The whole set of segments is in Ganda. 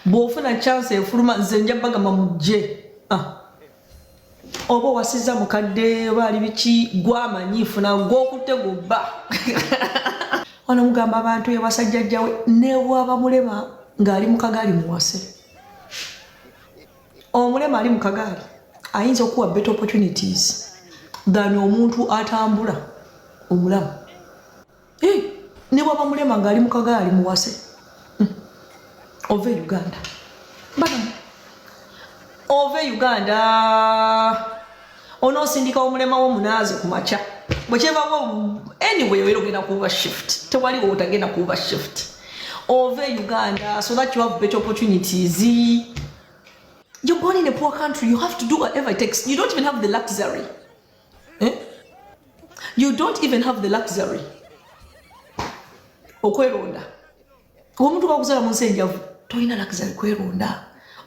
bwofuna chance efuluma nze nja bagamba mujje ah. oba owasiza mukadde oba ali biki gwamanyi funa gwokutte gubba wano mugamba abantu ewasajjajjawe nebwaba mulema ngaali mukagaali muwase omulema ali mukagaali ayinza okuwa better opportunities than omuntu atambula omulamu Eh, ne bwaba mulema ng'ali mu kagaali muwase hmm. ova e uganda bana ova e uganda onoosindika omulema wo munaazi ku makya bwekyevawo anyway era ogenda kuuba shift tewali wotagenda kuuba shift ova e uganda so that you have better opportunities you're born in a poor country you have to do whatever it takes you don't even have the luxury eh? you don't even have the luxury okweronda omuntu bakuzala mu nsi enjavu tolina luxury kweronda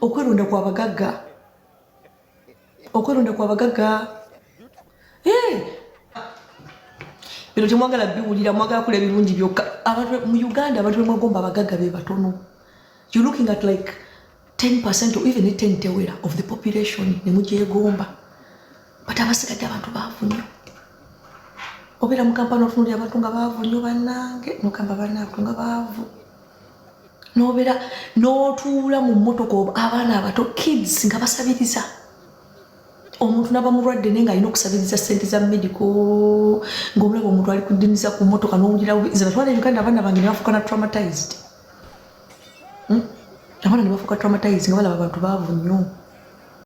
okweronda kwa bagagga okweronda kwa bagagga eh! bino temwagala biwulira mwagala kula ebirungi byokka abantu mu uganda abantu bemwagomba abagagga be batono you looking at like 10% or even 10 tewera of the population ne mugyegomba but abasigadde abantu baavu nnyo obeera mu kampani otunulira abantu nga baavu nnyo bannange nogamba bannaabantu nga baavu nobeera n'otuula mu mmotoka oba abaana abato kids nga basabiriza omuntu naba mulwadde naye nga alina okusabiriza sente za medico ngaomulaba omuntu ali kudimiza ku mmotoka nowulira zebatwala e uganda abaana bange nebafuukana traumatized Hmm? abaana ne bafuuka traumatized nga balaba bantu baavu nnyo